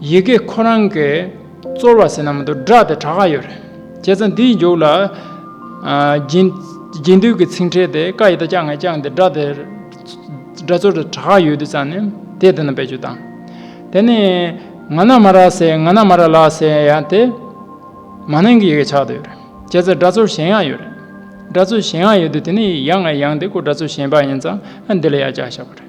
ཡི་གེ་ཁོ་རང་གི་རྩོལ་བ་ཟིན་ན་མ་དོ་སྒྲ་དེ་གྲག་ག་ཡོད་རེད། བྱས་ཙང་འདིའི་མཇུག་ལ། རྒྱུན་མཐུད་ཀྱི་ཚིག་འཕྲད་དེ་ཀ་ཡི་དག་ཅག་ངས་བཅངས་ཏེ་སྒྲ་དེ། སྒྲ་རྩོལ་དེ་གྲག་ག་ཡོད་དུས་ཙང་ནི་དེ་དེ་ན་བེད་སྤྱོད་དང། དེ་ནི། ང་ན་མ་ར་ཟེར་ང་ན་མ་ར་ལགས་ཟེར་ཡང་དེ། མ་ནིང་གི་ཡི་གེ་ཆགས་དུས་ཡོད་རེད། བྱས་ཙང་སྒྲ་རྩོལ་གཞན་ཡང་ཡོད་རེད། སྒྲ་རྩོལ་གཞན་ཡང་ཡོད་དུས་དེ་ནི་ཡང་ངས་ཡང་དེ་ཀོ་སྒྲ་རྩོལ་གཞན་པ་ཡིན་ཙང་ཨ་འདི་ལ་ཡང་བཅག་ཤག་པ་རེད།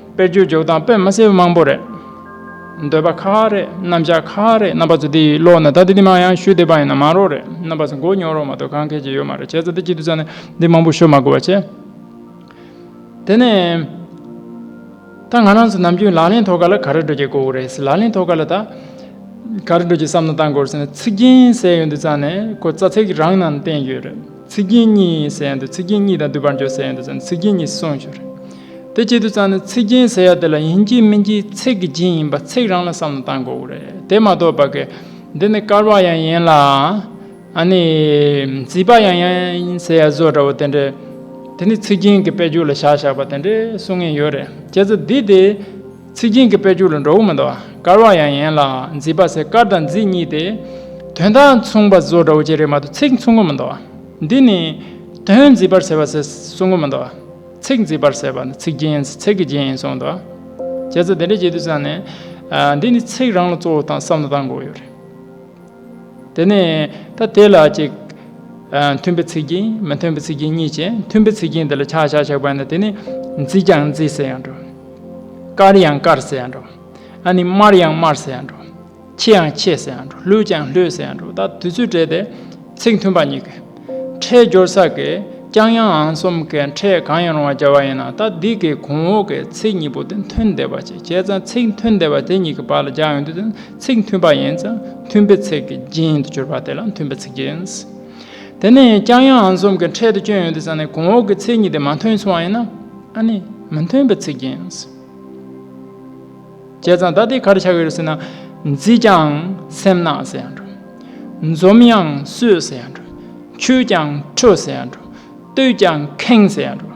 དཔེ་བརྗོད་འཇོག་སྟངས་དཔེ་མ་སེལ་མང་པོ་རེད། འདོད་པ་ཁག་རེད་རྣམ་གཞག་ཁག་རེད་རྣམ་པ་ཚོ་དེ་ཡི་ཀློག་ན་ད་ལྟ་འདི་མང་ཡང་ཞུ་བདེ་བ་ཡིན་ན་མང་རོགས་རེད་རྣམ་པ་ཚོ་འགོ་ཉོ་རོགས་མ་གཏོགས་གང་མཁས་ཀྱི་ཡོད་མ་རེད་བྱས་ཙང་ད་ཅི་དུས་ཙང་ནས་འདི་མང་པོ་ཤོད་མ་དགོས་པ་བྱས། དེ་ནས། ད་ང་རང་ཚོ་ནམ་རྒྱུན་ལག་ལེན་ཐོག་ག་ལ་ག་རེ་འགྲོ་གྱི་གོ་རེད་ལག་ལེན་ཐོག་ག་ལ་ད་ག་རེ་འགྲོ་གྱི་བསམ་ན་བཏང་གོ་རེད་ཟེར་ན་ཚིག་རྒྱན་གསལ་ཡོད་དུས་ཙང་ནས་ཁོ་རྩ་ཚིག་རང་ནང་བསྟན་ཡོད་རེད། ཚིག་རྒྱན་གཉིས་ཟེར་ཡང་འདུག་ཚིག་རྒྱན་གཉིས་དང་བསྡུར་བར་འཇོག་ཟེར་ཡང་འདུག་ཙང་ཚིག་རྒྱན་གཉིས་སུ་སོང་ཞུ། དེ་བྱེད་དུ་ཙང་ནི་ཚིག་རྒྱན་ཟེར་ཡག་དེ་ལ་ཡིན་གྱི་མིན་གྱི་ཚིག་གི་རྒྱན་ཡིན་པ་ཚིག་རང་ལ་བསམ་བློ་བཏང་དགོས་གོ་རེད་དེ་མ་གཏོགས་བ་གེ། འདི་ནི་དཀར་བག་ཡང་ཡིན་ལ། ཨ་ནི། རྩིས་བག་ཡང་ཡིན་ཟེར་ཡག་བཟོ་འདྲ་བོ་དེ་འདྲས། དེ་ནི་ཚིག་རྒྱན་གྱི་དཔེ་འཇུག་ལ་བཞག་བཞག་པ་དེ་འདྲས་གསུང་ངེས་ཡོད་རེད་ཀྱེ་ཙི་འདི་དེ། ཚིག་རྒྱན་གྱི་དཔེར་འགྱུར་ལ་འགྲོ་བོ་མི་འདུག་དཀར་བ་ཡང་ཡན་ལག་མཛེས་པ་སེ་དཀར་དང་མཛེས་གཉིས་ཏེ། དོན་དག་མཚུངས་པ་བཟོ་འདྲ་བོ་བཅས་རེད་མ་གཏོགས་ཚིག་མཚུངས་པོ་མི་འདུག་འདི་ནི། དོན་མཛེས་པར་ཟེར་བ་ཟེར་གསུང་གི་མི་འདུག་ཚིག་མཛེས་པར་ཟེར་བ་ནི་ཚིག་རྒྱན་ཚིག་གི་རྒྱན་ཡིན་གསུང་འདུག་ཁྱེད་ཚོ་དེ་འདྲ་བྱེད་དུས་ཚང་ནས། འདི་ནི་ཚིག་རང་ལ་གཙོ་བོ་དང་བསམ་བློ་བཏང་དགོས་ཡོད་རེད། དེ་ནས་ད་དེ་ལ་ཅིག། མཐུན་པའི་ཚིག་རྒྱན་མི་མཐུན་པའི་ཚིག་རྒྱན་གཉིས་བྱས། མཐུན་པའི་ཚིག་རྒྱན་དེ་ལ་ཆག་ཆག་ཆག་པ་ན་དེ་ནི། མཛེས་ཀྱང་མཛེས་ཟེར་ཡང་འགྲོ། དཀར་ཡང་དཀར་ཟེར་ཡང་འགྲོ། ཨ་ནི་དམར་ཡང་དམར་ཟེར་ཡང་འགྲོ། ཆེ་ཡང་ཆེ་ཟེར་ཡང་འགྲོ་ལྷོད་ཀྱང་ལྷོད་ཟེར་ཡང་འགྲོ་ད་དུས་ཚོད་བྲལ་ཏེ། ཚིག་མཐུན་པ་གཉིས་ཀས། ཕྲད་སྦྱོར་ས་གས་ཀྱང་ཡང་ཨང་གསུམ་གས་ཕྲད་གང་ཡང་རུང་བ་སྦྱར་བ་ཡིན་ན་ད་འདི་གས་གོང་འོག་གས་ཚིག་གཉིས་པོ་དེ་མཐུན་བདེ་བ་བྱེད་བྱས་ཙང་ཚིག་མཐུན་བདེ་བ་དེ་གཉིས་ཀས་བར་ལ་སྦྱར་ཡོང་དུས་དེ། ཚིག་མཐུན་པ་ཡིན་ཙང་མཐུན་པའི་ཚིག་གི་རྒྱན་དུ་གྱུར་པ་དེ་ལ་མཐུན་པའི་ཚིག་རྒྱན། དེ་ནས་ཀྱང་ཡང་ཨང་གསུམ་གྱི་འཕྲལ་དུ་སྐྱོན་ཡོད་དུ་བསམས་ནས་གོང་འོག་གི་ཚིག་གཉིས་དེ་མ་མཐུན་སོང་བ་ཡིན་ན་ཨ་ནི་མི་མཐུན་པའི་ཚིག་རྒྱན། བྱས་ཙང་ད་དེ་གར་ཆགས་ཡོད་ཟེར་ན། མཛེས་ཀྱང་སེམས་ནག་ཟེར་ཡང་འགྲོ། འཛོམས་ཡང་སོས་ཟེར་ཡང་འགྲོ། འཁྱུད་ཀྱང་ཁྲོས་ཟེར་ཡང་འགྲོ། བསྟོད་ཀྱང་ཁེངས་ཟེར་ཡང་འགྲོ།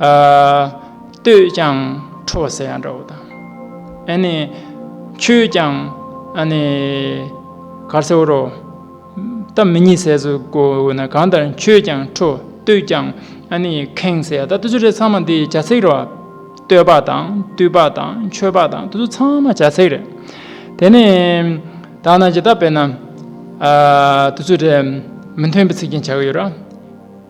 ལྟོས་ཀྱང་ཁྲོ་བ་ཟེར་ཡང་འདྲ་བོ་དང། ཁྱོད་ཀྱང་གར་ཟེར་བོ་རོ། ད་མི་གཉིད་ཟས་སུ་གོ་ན་གང་ལྟར་ཁྱོད་ཀྱང་ཁྲོ་ལྟོས་ཀྱང་ཁེངས་ཟེར་ཡང་འདྲ། ལྟོས་ཆོས་རེད་ཚང་མ་འདི་བྱ་ཚིག་རེད། ལྟོས་པ་དང་བཏུས་པ་དང་མཆོད་པ་དང་འདི་ཚོ་ཚང་མ་བྱ་ཚིག་རེད། དེ་ནི་དག་ན་ཇི་ལྟར་དཔེར་ན། ལྟོས་ཆོས་རེད་མི་མཐུན་པའི་ཚིག་ཅན་བྱ་གི་ཡོད་ར།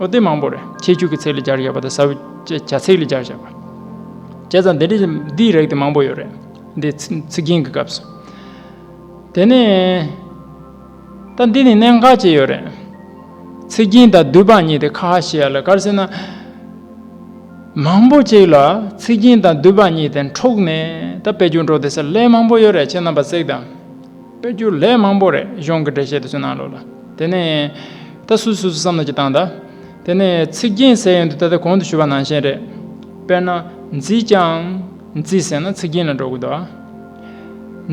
ཨོ་དེ་མང་པོ་རེད་ཁྱེད་ཕྱུགས་ཀྱི་ཚིག་ལས་སྦྱར་ཡོད་པ་དང་ས་བོན་བྱ་ཚིག་ལས་སྦྱར་བཞག་པ། བྱས་ཙང་འདི་འདྲའི་འདིའི་རིགས་དེ་མང་པོ་ཡོད་རེད་འདི་ཚིག་རྒྱན་གྱི་སྐབས་སུ། དེ་ནས། ད་འདི་ནས་གནད་འགག་ཅིག་ཡོད་རེད། ཚིག་རྒྱན་དང་བསྡུས་པ་གཉིས་དེ་ཁ་ཧ་ཤེས་ཡ་ལ་གར་སེ་ན། མང་པོ་ཅིག་ལ་ཚིག་རྒྱན་དང་བསྡུས་པ་གཉིས་དེ་འཕྲོག་ནས་ད་དཔེ་ཆུང་འཕྲོག་དེ་ས་ལས་མང་པོ་ཡོད་རེད་ཁྱེད་རྣམ་པ་གསེག་དང། དཔེར་བསྒྱུར་ལས་མང་པོ་རེ་གཞུང་གི་འགྲེལ་བཤད་དུ་བྱུང་གནང་ལོ་ལ། དེ་ནས། ད་སུས་སུས་སུ་བསམ་ནོ་ཅི་བཏང་གདའ། དེ་ནས་ཚིག་རྒྱན་གསལ་ཡོད་འདུག་ད་ལྟ་གོང་དུ་ཞུ་བ་ནང་བཞིན་རེད། དཔེར་ན། མཛིས་ཀྱང། མཛིས་ཟེར་ན་ཚིག་རྒྱན་ལ་འགྲོ་དགོས་འདུག་ཨ།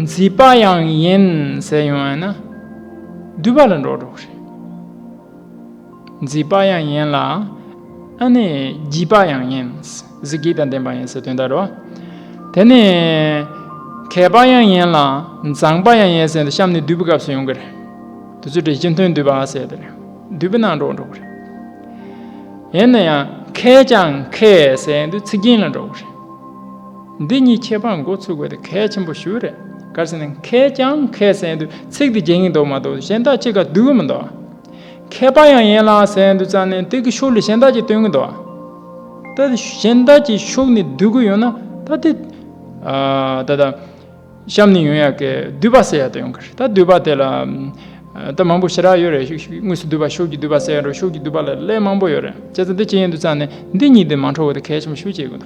མཛིས་པ་ཡང་ཡིན། ཟེར་ཡོང་བས་ན། བསྡུས་པ་ལ་འགྲོ་དགོས་རེད། མཛེས་པ་ཡང་ཡིན་ལ། ཨ་ནི་བརྗིད་པ་ཡང་ཡིན། གཟི་བརྗིད་དང་ལྡན་པ་ཡིན་ཟེར་དོན་དག་རོ། དེ་ནི། མཁས་པ་ཡང་ཡིན་ལ། མཛངས་པ་ཡང་ཡིན་ཟེར་ནས་གཤམ་ནས་བསྡུས་པའི་སྐབས་སུ་ཡོང་གི་རེད། དེ་ཚོའི་གྲས་སྤྱི་མཐུན་བསྡུས་པ་ཟེར་དེ་རེད། བསྡུས་པའི་ནང་འགྲོ་འགྲོ་གི་རེད། ཡིན་ན་ཡང་མཁས་ཀྱང་མཁས་ཟེར་དུས་ཚིག་རྒྱན་ལ་འགྲོ་གི་རེད། འདི་གཉིས་ཁྱད་པར་འགོ་ཚུགས་པ་དེ་གལ་ཆེན་པོ་ཞིག་རེད། གལ་སྲིད་མཁས་ཀྱང་མཁས་ཟེར་དུས་ཚིག་དེ་རྒྱན་གྱི་འདུག་མ་གཏོགས་གཞན་དག་ཅི་ག་བསྡུས་གི་མི་འདུག། མཁས་པ་ཡང་ཡན་ལག་ཟད་འདུག་ཙམ་ནས་དེ་གི་ཤུགས་ལས་གཞན་དག་ཅིག་སྟོན་གི་འདུག་བ། ད་དེ་གཞན་དག་ཅིག་ཤུགས་ནས་བསྡུ་གི་ཡོད་ན་ད་དེ། ད་ལྟ། གཤམ་ནས་ཡོང་ཡ་གི་བསྡུས་པ་ཟེར་ཡ་དེ་ཡོང་གི་རེད་ད་བསྡུས་པ་དེ་ལ། ད་མང་པོ་ཞེ་དྲག་ཡོད་རེད་དངོས་སུ་བསྡུས་པ་ཤུགས་ཀྱི་བསྡུས་པ་ཟེར་ཡ་རོ་ཤུགས་ཀྱི་བསྡུས་པ་ལ་ལས་མང་པོ་ཡོད་རེད་བྱས་ཙང་དེ་ཅི་ཡིན་འདུག་ཙམ་ནས་འདི་གཉིས་དེ་མ་འཕྲོ་བ་དེ་གལ་ཆེན་པོ་ཤུགས་ཆེ་གི་འདུག